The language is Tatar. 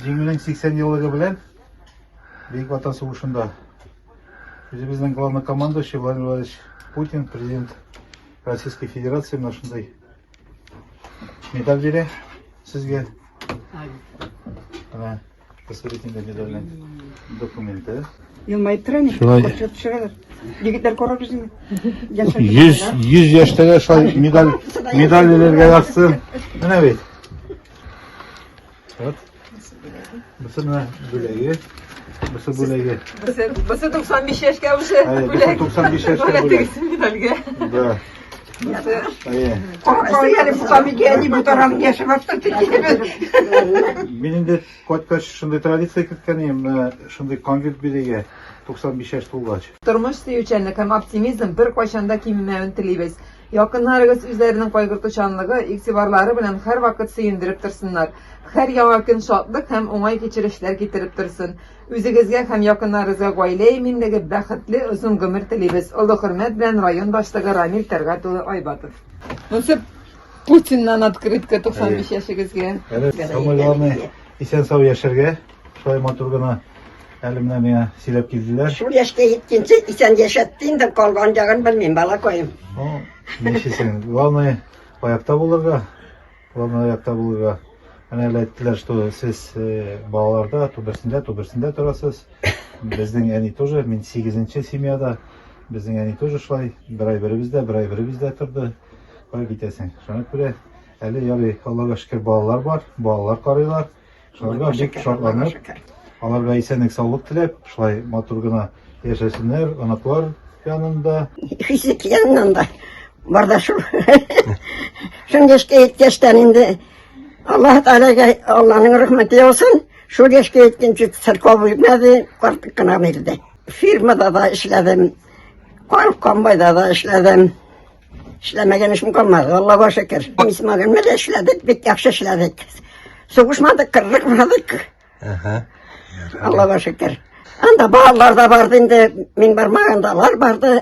Җиңүнең 80 еллыгы белән Бөек Ватан сугышында үзебезнең главный командующий Владимир Владимирович Путин, президент Российской Федерации, менә шундый медаль бирә сезгә. Менә посвятительный медальнең документы. Елмаеп тора инде. Шулай. Кочып төшерәләр. Егетләр карап үзеңне. Яшәп 100 100 яшьтәге шулай медаль медаль бирергә язсын. Менә бит. Вот. Бусы менә бүләге. Бусы бүләге. Бусы, бусы 95 яшькә уже. Әйе, бусы 95 яшькә бүләк. Бүләк медальгә. Да. Әйе. Кайсы әле бу камигә ни бу тарам яшәп башта тикебез. Мин инде кайткач шундый традиция керткән идем, шундый конвит бирегә. 95 яшь тулгач. Тормыш сөючәнлек һәм оптимизм беркайчан да кимемәвен телибез. Якыннарыгыз үзләренең кайгыртучанлыгы, игътибарлары белән һәрвакыт сөендереп торсыннар. Һәр яңа көн шатлык һәм уңай кичерешләр китереп торсын. Үзегезгә һәм якыннарыгызга гаилә иминлеге, бәхетле, озын гомер телибез. Олы хөрмәт белән район башлыгы Рамил Тәлгать улы Айбатов. Насыйп Путиннан открытка 95 яшегезгә. Самый главный исән-сау яшәргә. Шулай матур гына әле менә миңа сөйләп килделәр. Шул яшькә җиткәнче исән яшәтте инде, калган ягын белмим, балакаем. Ну, ничесен. Главное, аякта булырга. Главное, аякта булырга. Әнә әле әйттеләр, что сез э, балаларда түбәсендә, түбәсендә торасыз. Безнең әни тоже, мин сигезенче семьяда. Безнең әни тоже шулай, бер ай беребездә, бер ай беребездә торды. Кая китәсең? Шуңа күрә әле ярый, Аллага шөкер, балалар бар, балалар карыйлар. Шуларга бик шатланып, аларга исәнлек саулык теләп, шулай матур гына яшәсеннәр, оныклар янында. Физик яннан да бар да шул. Шул яшькә еткәчтән инде Аллаһ Тәгаләгә Алланың рәхмәте яусын. Шул яшькә еткәнче церковь үлмәде, карт кына бирде. Фирмада да эшләдем, комбайда да эшләдем. Эшләмәгән эшем калмады, Аллага шөкер. Исмаган белән эшләдек, бик яхшы эшләдек. Сугышмадык, кырыкмадык. Ага. Аллага шөкер. Анда балалар да барды инде, мин бармаганда алар барды.